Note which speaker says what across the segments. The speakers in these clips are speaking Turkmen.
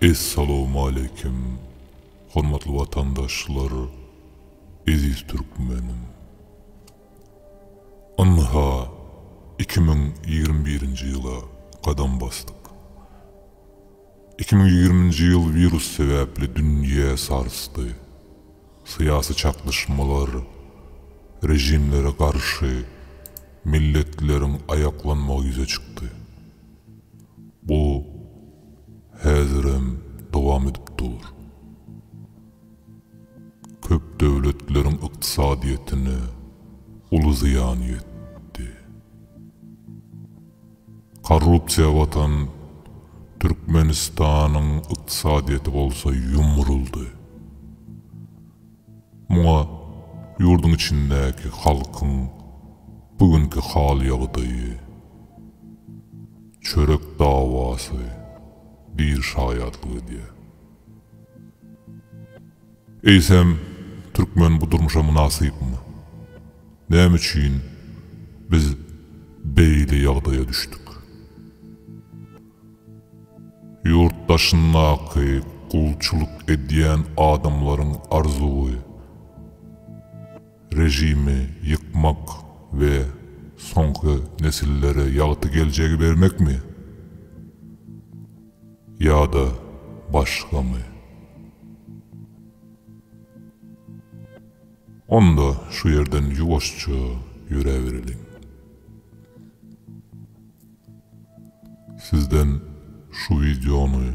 Speaker 1: Essalamualeýkum hormatly watandaşlar eziz türkmenim. Ynha iki müň ýigrimi birinji ýyla gadam basdyk. Iki müň ýigriminji ýyl wirus sebäpli dünýä sarsdy. Syýasy çaknyşmalar, režimlere garşy milletleriň aýaklanmagy ýüze çykdy. Bu häzirem dowam edip dur. Köp döwletleriň ykdysadyýetine uly zyýan ýetdi. Korrupsiýa batan Türkmenistanyň ykdysadyýeti bolsa ýumruldy. Muňa ýurduň içindäki halkyň bu günki hal-ýagdaýy, çörek dawasy diýr şaýatlyk edýär. Eýsem, türkmen bu durmuşa mynasypmy? Näme üçin biz beýle ýagdaýa düşdük? Ýurt daşyndaky gulçulyk edýän adamlaryň arzuwy, režimi ýykmak we soňky nesillere ýagty geljegi bermekmi? Ýa-da başgamy? Onda şu ýerden ýuwaşja ýöräbereliň. Sizden şu wideony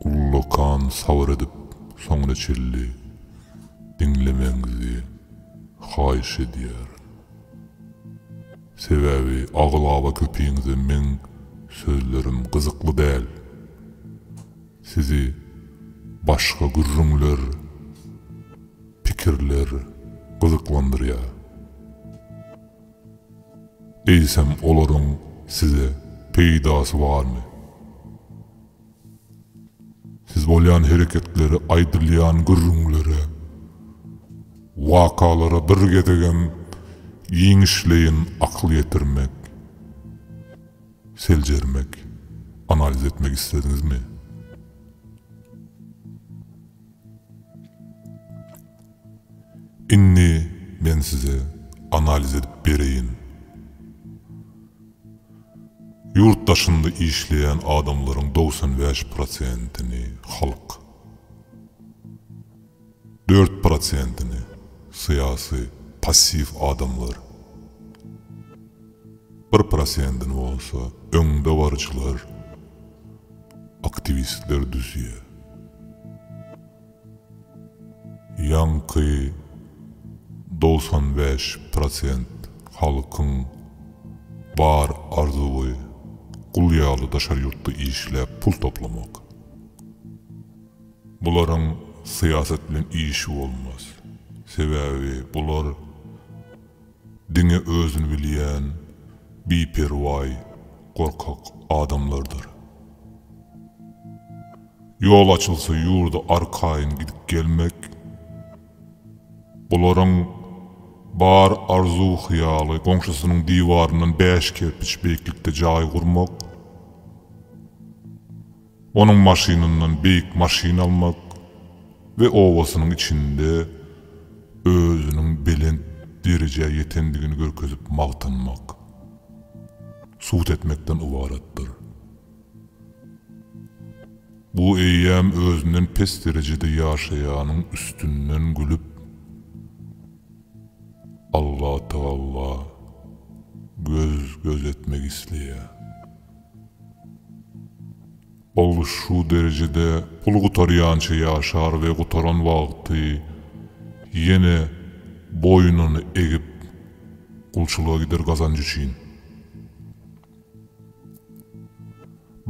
Speaker 1: ullakan sabyr edip soňuna çenli diňlemegiňizi haýyş edýärin. Sebäbi aglaba köpiňize meň sözlerim gyzykly däl. Sizi başga gürrüňler, pikirler gyzyklandyrýar. Eýsem olaryň size peýdasy barmy? Siz bolýan hereketlere, aýdylýan gürrüňlere, wakalara bir gezegem giňişleýin akyl ýetirmek, seljermek, analiz etmek islediňizmi? Indi men size analiz edip bereýin. Ýurt daşynda işleýän adamlaryň dogsan bäş prosentini halk, dört prosentini syýasy passiw adamlar, Bir prosentini bolsa öňdebaryjylar, aktiwistler düzýär. Ýaňky dogsan bäş prosent halkyň bar arzuwy gul ýaly daşary ýurtda işläp pul toplamak. Bularyň syýasat bilen işi bolmaz. Sebäbi bular. Diňe özüni bilýän biperwaý gorkak adamlardyr. Ýol açylsa ýurda arkaýyn gidip gelmek, bularyň bar arzuw hyýaly goňşusynyň diwaryndan bäş kerpiç beýiklikde jaý gurmak. Onuň maşynyndan beýik maşyn almak we obasynyň içinde özüniň belent derejä ýetendigini görkezip magtanmak, sud etmekden ybaratdyr. Bu eýýäm özünden pes derejede ýaşaýanyň üstünden gülüp, Allatagalla göz-göz etmek isleýär. Ol şu derejede pul gutarýança ýaşar we gutaran wagty ýene boýnuny egip gulçulyga gider gazanç üçin.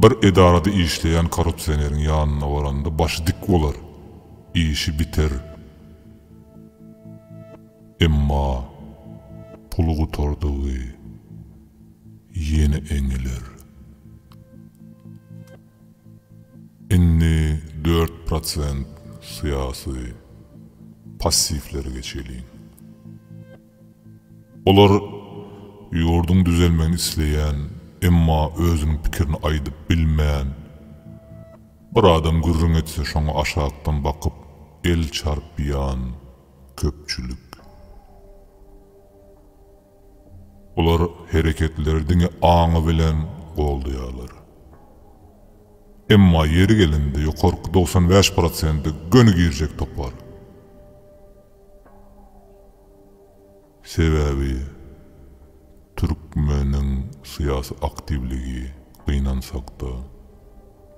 Speaker 1: Bir edarada işleýän korrupsioneriň ýanyna baranda başy dik bolar, işi biter. Emma puly gutardygy. ýene eňiler. Indi dört prosent syýasy passiwlere geçeliň. Olar ýurduň düzelmegini isleýän, emma özüniň pikirini aýdyp bilmän, bir adam gürrüň etse şoňa aşakdan bakyp el çarpýan köpçülik. Olar hereketleri diňe aňy bilen goldaýarlar. Emma ýeri gelende ýokarky togsan bäş prosenti göni girjek topar. Sebäbi türkmeniň syýasy aktiwligi, gynansak-da,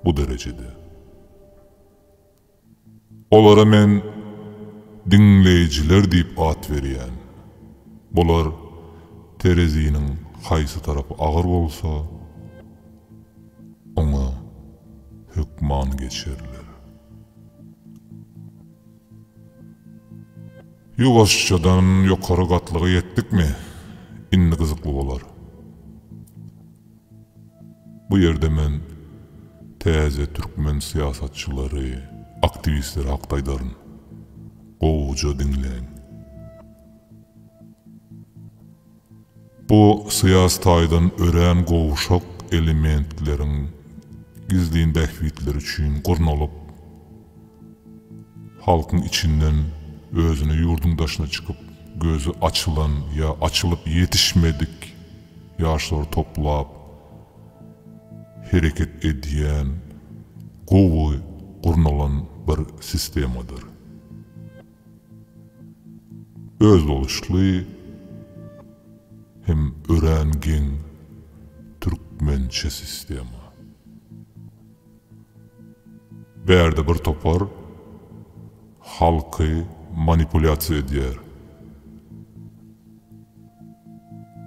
Speaker 1: bu derejede. Olara men Diňleýjiler diýip at berýän. Bular tereziniň haýsy tarapy agyr bolsa, oňa hökman geçerler. Ýuwaşjadan ýokary gatlyga ýetdikmi, indi gyzykly bolar. Bu ýerde men täze türkmen syýasatçylary, aktiwistleri hakda aýdaryn. Gowuja diňläň. Bu syýasy taýdan örän gowşak elementleriň gizlin bähbitleri üçin gurnalyp, Halkyň içinden özüne ýurduň daşyna çykyp, gözi açylan ýa açylyp ýetişmedik ýaşlary toplap hereket edýän gowy gurnalan bir sistemadyr. Özboluşly hem örän geň türkmençe sistema. Bärde bir topar halky manipulýasiýa edýär.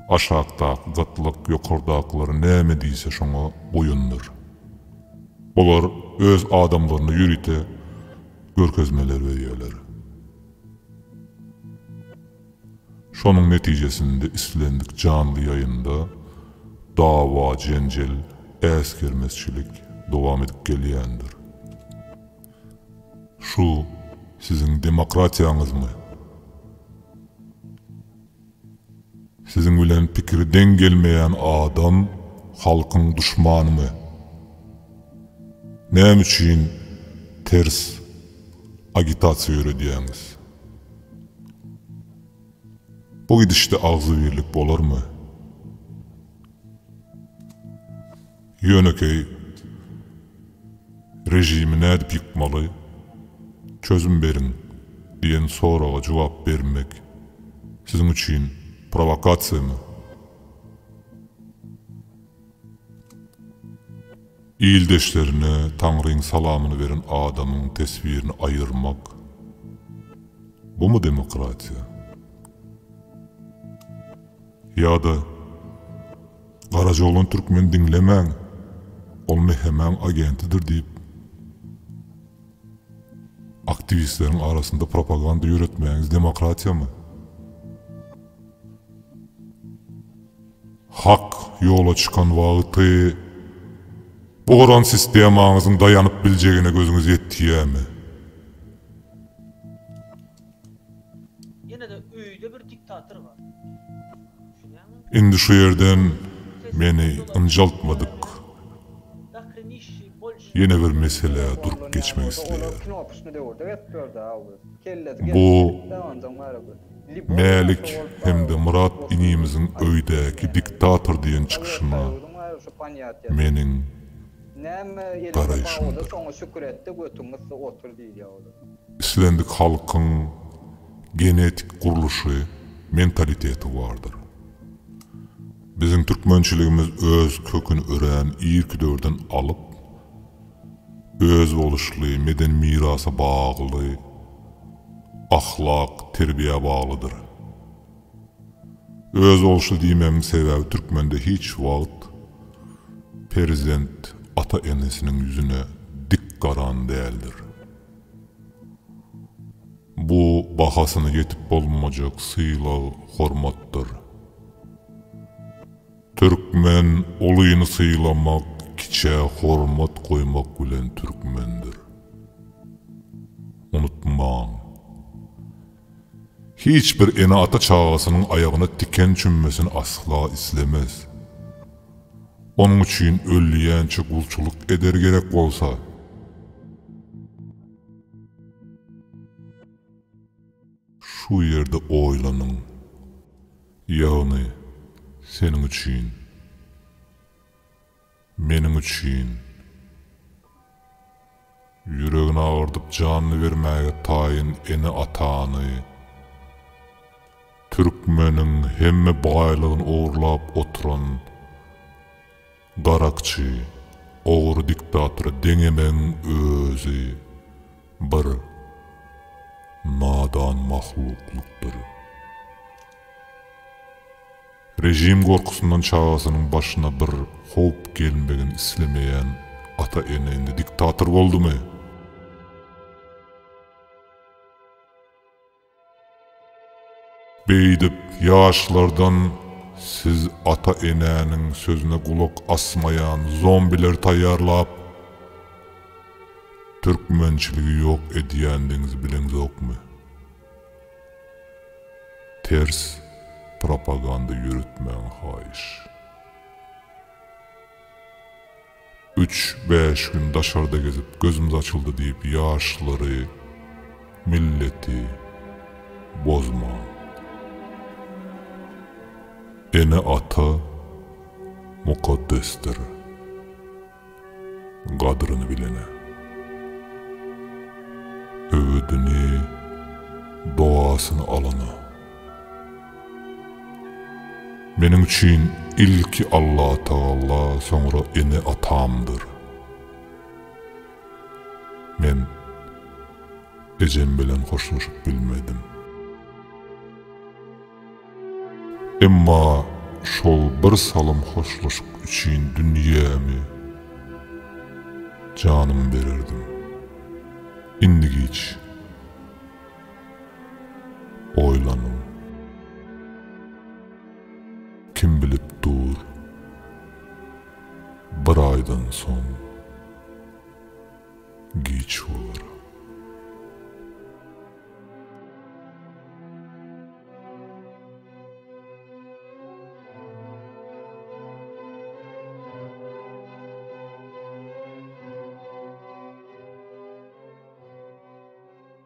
Speaker 1: Aşakdaky gatlyk ýokardakylary näme diýse şoňa boýundyr. Olar öz adamlaryna ýörite görkezmeler berýärler. Şonuň netijesinde islendik janly ýaýynda dawa-jenjel, äsgermezçilik dowam edip gelýändir. Şu siziň demokratiýaňyzmy? Siziň bilen pikiri deň gelmeýän adam halkyň duşmanymy? Näme üçin ters agitasiýa ýöredýäňiz? Bu gidişde agzybirlik bolarmy? Ýönekeý režimi nädip ýykmaly? Çözüm beriň diýen soraga jogap bermek siziň üçin prowokasiýamy? Ildeşlerine Taňryň salamyny beren adamyň teswirini aýyrmak, bumy demokratiýa? Ýa-da, Garajoglan türkmeni diňlemäň, ol Mehemäň agentidir diýip, aktiwistleriň arasynda propaganda ýöretmäňiz demokratiýamy? Hak ýola çykan wagty bu guran sistemaňyzyň daýanyp biljegine gözüňiz ýetýämi? Indi şu ýerden meni ynjaltmadyk. Ýene bir meselä durup geçmek isleýärin. Bu Mälik hem-de Myrat inimiziň öýdäki diktator diýen çykyşyna meniň garaýşymdyr. Islendik halkyň genetik gurluşy, mentaliteti bardyr. Biziň türkmençiligimiz öz köküni örän irki döwürden alyp, özboluşly medeni mirasa bagly, ahlak, terbiýä baglydyr. Özboluşly diýmegiň sebäbi türkmende hiç wagt perzent ata-enesiniň ýüzüne dik garan däldir. Bu bahasyna ýetip bolmajak sylag hormatdyr. Türkmen ulyny sylamak kiçä hormat goýmak bilen türkmendir. Unutmaň. Hiç bir ene ata çagasynyň aýagyna tiken çümmesini asla islemez. Onuň üçin ölýänçä gulçulyk eder gerek bolsa. Şu ýerde oýlanyň. Ýagny, seniň üçin. Meniň üçin. Ýüregini agyrdyp janyny bermäge taýyn ene-atany, türkmeniň hemme baýlygyny ogurlap oturan, Darakçy, ogry diktatora deňemegiň özi bir nadan mahluklykdyr. Režim gorkusyndan çagasynyň başyna bir howp gelmegini islemeýän ata-ene indi diktator boldumy? Beýdip ýaşlardan siz ata enäniň sözüne gulak asmaýan zombiler taýýarlap türkmençiligi ýok edýändigiňizi bileňzokmy? Ters propaganda ýöretmäň haýyş. Üç, bäş gün daşarda gezip gözümiz açyldy diýip ýaşlary, milleti bozmaň. Ene ata mukaddesdir. Gadryny bilene. Öwüdini, dogasyny alana. Meniň üçin ilki Allatagala, soňra ene-atamdyr. Men ejem bilen hoşlaşyp bilmedim. Emma şol bir salym hoşlaşyk üçin dünýämi, janymy bererdim. Indi giç. Oýlanyň. Kim bilip dur, bir aýdan soň giç bolar.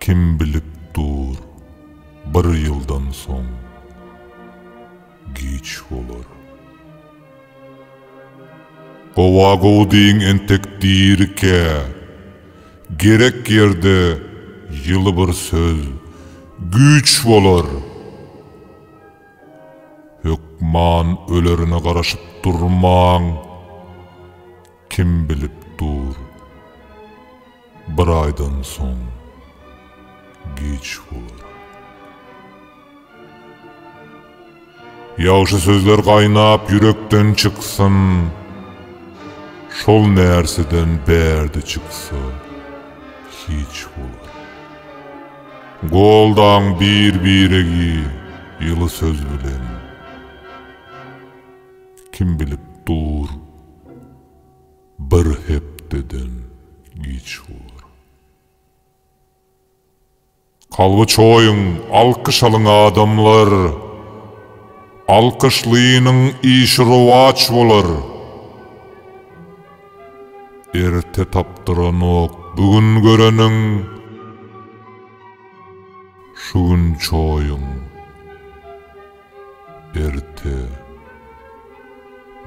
Speaker 1: Kim bilip dur, bir ýyldan soň giç bolar. Gowa-gowy diýiň entek dirikä, gerek ýerde ýyly bir söz güýç bolar. Hökman ölerine garaşyp durmaň, kim bilip dur. Bir aýdan soň giç bolar. Ýagşy sözler gaýnap ýürekden çyksyn, Şol närseden bärde çyksa hiç bolar. Goldaň bir-biregi ýyly söz bilen, Kim bilip dur, Bir hepdeden giç bolar. Kalby çoýuň, alkyş alyň adamlar! Alkyşlynyň işi rowaç bolar. Erte tapdyranok bu gün göreniň, şu gün çoýuň. Erte,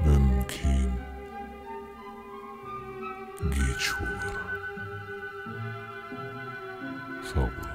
Speaker 1: mümkin, giç bolar. Sag boluň.